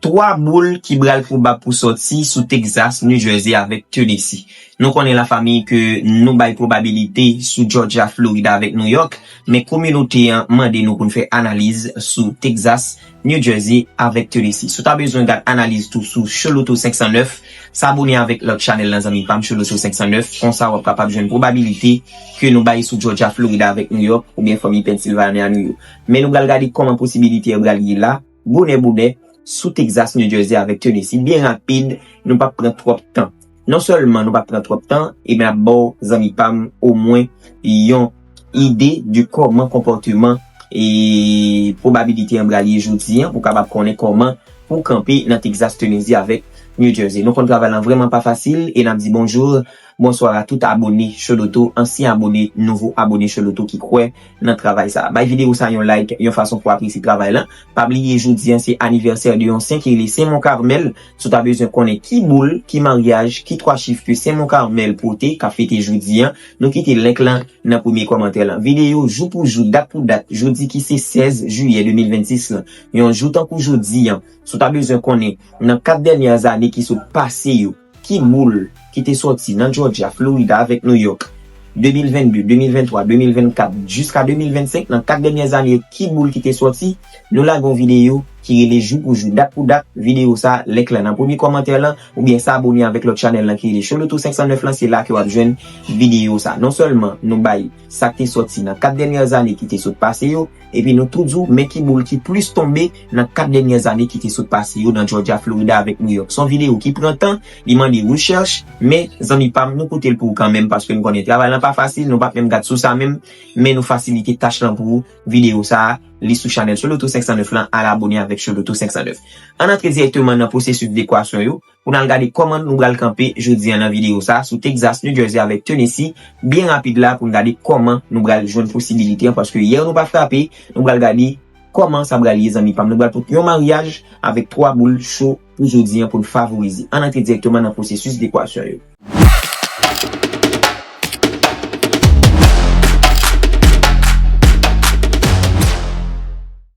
3 boul ki bral pwobab pou sòti sou Texas, New Jersey avèk Tennessee. Nou konnen la fami ke nou bay pwobabilite sou Georgia, Florida avèk New York, men kominote an mande nou pou n fè analiz sou Texas, New Jersey avèk Tennessee. Si w ta bezwen gad analiz tou sou Choloto 509, sa abone avèk lòt chanèl lan zanmi pa m Choloto 509, konsa w ap kapab jwenn pwobabilite ke nou bay sou Georgia, Florida avèk New York oubyen fanmi Pennsylvania nou yo. Men nou bral gade kòman posibilite yo bral ye la. Bonè bonè, sou Texas, New Jersey avèk Tennessee, byen rapid, nou pap pran twòp tan. Non sèlman nou pap pran twòp tan, e map baw zanmi pam omwen yon ide de kòman konpòteman e pwobabilite an bral ye jodi an pou kapab konnen kòman pou kanpe nan Texas, Tennessee avèk New Jersey. Nou konn travay lan vrèman pa fasil e nap di bonjour, bonsoir a tout abone Choloto, ansyen abone, nouvo abone Choloto ki kwè. nan travay sa. Bay video sa yon like yon fason pou apresye travay lan. Pa bliye jodi an se anivèsè de yon sen ki rele Sen Mon Carmel. Si w ta bezwen konnen ki boul, ki maryaj, ki 3 chif ke Sen Mon Carmel pote k ap fete jodi an, nou kite link lan nan premye kòmantè lan. Video jou pou jou, dat pou dat, jodi ki se 16 jiyè 2026 lan. Yon jou tankou jodi an, si w ta bezwen konnen nan 4 dènyè ane ki sot pase yo, Ki boul ki te sòti nan Jòjya, Florida avèk Nouyòk? 2022, 2023, 2024, jiska 2025, nan 4 dènyè zane yo ki boul ki te sòti? Nou lage yon videyo ki rele jou pou jou, dat pou dat, videyo sa, link lan nan premye kòmantè lan, oubyen sa abone avèk lòt chanèl lan ki rele Xoloto 509 lan se la ke wap jwenn videyo sa. Non sèlman nou bay. sa k te sòti nan kat dènyè ane ki te sot pase yo, epi nou tou di w men ki boul ki plis tonbe nan kat dènyè ane ki te sot pase yo nan Jòjya, Florida avèk Nouyòk. S on videyo ki pran tan, li mande rechèch, men zanmi pa m nou koute l pou ou kanmenm paske n konnen travay lan pa fasil, nou pa p menm gad sous a menm, men nou fasilite tach lan pou ou, videyo sa a, li sou chanèl Soloto 509 lan, al abone avèk Soloto 509. Ann antre dirèkteman nan pwosesis dekwasyon yo, Pou n al gade kòman nou pral kanpe jodi an nan videyo sa a sou Texas, New Jersey avèk Tennessee byen rapid la pou n gade kòman nou pral jwenn posibilite an paske yè nou pa frape nou pral gade kòman sa pral ye zanmi pa m nou pral pot yon maryaj avèk 3 boul cho pou jodi an pou n favorize ann antre dirèkteman nan pwosesis dekwasyon yo.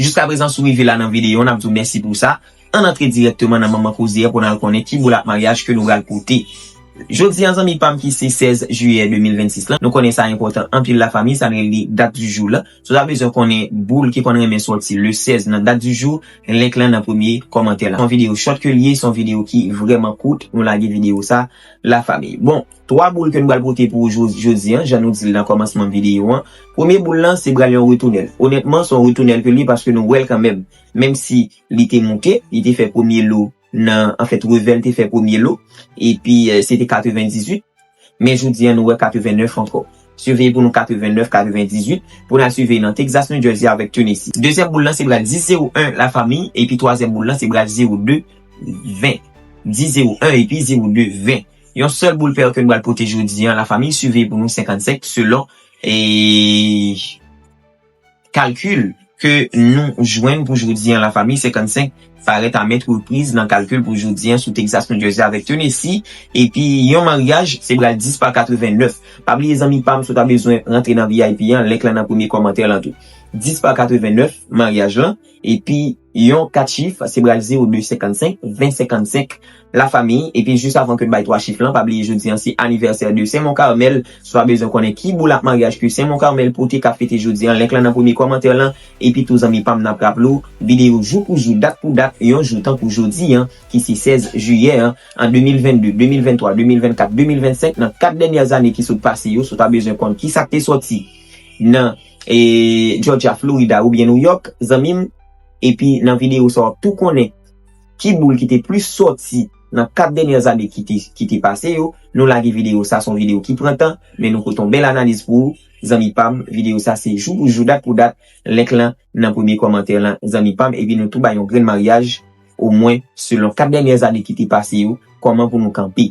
Jiska prezan sou rive la nan videyo nap di w mèsi pou sa. Ann antre dirèkteman nan manman koze a pou n al konnen ki boulap maryaj ke nou pral pote. Jodi a zanmi pa m ki se 16 jiyè 2026 la, nou konnen sa enpòtan anpil la fanmi sa n rele dat di jou la. Si w ta bezwen konnen boul ki konn renmen sòti le 16 nan dat di jou, link lan nan premye kòmantè la. Se yon videyo short ke l ye, se yon videyo ki vrèman kout, nou lage videyo sa. la fami. Bon, 3 boul ke nou pral pote pou ou jodi an, jan nou di l nan kòmansman videyo an, premye boul lan se pral yon retounèl. Onètman, se yon retounèl ke l ye paske nou wè l kanmèm. Menm si li te moute, li te fè premye lo nan, anfèt revè l te fè premye lo, epi se te 98, men jodi an nou wè 89 ankò. Siveye pou nou 89, 98, pou n al siveye nan Texas, New Jersey avèk Tennessee. Dezyèm boul lan se pral 10, 0, 1 la fami, epi twazyèm boul lan se pral 0, 2. 20. Di 0 1 epi 0 2 20. Yon sèl boul pèr ke n bal pote jodi an, la famiy suveye pou nou 55 selon kalkil ke nou jwenn pou jodi an la famiy 55 parèt a mèt repriz nan kalkil pou jodi an sou Texas, New Jersey avèk Tennessee epi yon maryaj se bral 10 pa 89. Pa bliye zanmi pam si w ta bezwen rantre nan vip an link lan nan premye kòmantè lan tou. 10 pa 89 maryaj lan epi. Yon kat chif, se bral 0, 2, 55, 20, 55, la famille, epi jis avan ke n bay 3 chif lan, pa bliye jodi an se anivèsè de Sen Mon Carmel, si w ta bezwen konnen ki boulap maryaj ke Sen Mon Carmel pote k ap fete jodi an, link lan nan premye kòmantè lan, epi tou zanmi pa m n ap raple w, videyo jou pou jou, dat pou dat, yon jou tankou jodi an, ki se 16 jiyè an, an 2022, 2023, 2024, 2025, nan 4 dènyè zane ki sot pase yo, si w ta bezwen konn kisa k te sòti nan. Georgia, Florida oubyen New York zanmim epi nan video sa wap tou konnen ki boul ki te plis sòti nan 4 dènyè ane ki te pase yo, nou lage video sa son video ki pran tan men nou pote yon bèl analiz pou ou zanmi pam video sa se jou pou jou dat pou dat link lan nan premye kòmantè lan zanmi pam epi nou tou bay yon grenn maryaj omwen selon 4 dènyè ane ki te pase yo kòman pou nou kanpe.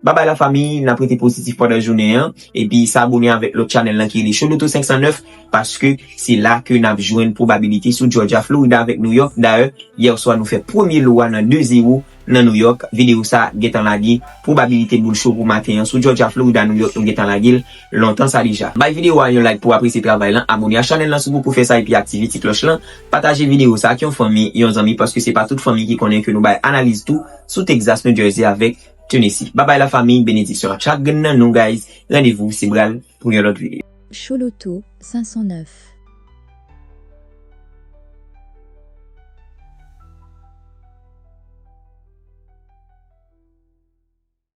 Bye bye la famille nap rete positif pandan jounen an epi sa abone avèk lòt chanèl lan ki rele Show Loto 509 paske se la ke nap jwenn pwobabilite sou Georgia, Florida avèk New York dayè yè swa nou fè premye lo a nan 2 zero nan New York video sa gentan lage pwobabilite boul cho pou maten an sou Georgia, Florida, New York nou gentan lage l lontan sa deja. Bay video a yon like pouw apresye travay lan abone a chanèl lan si w poko fè sa epi aktive ti klòch lan pataje video sa ak yon fanmi yon zanmi paske se pa tout fanmi ki konnen ke nou bay analiz tou sou Texas, New Jersey avèk. Tennessee. Babay la famiy benediksyon ak chak grenn nan nou guys randevou se bral pou yon lòt video. Chouloutou 509.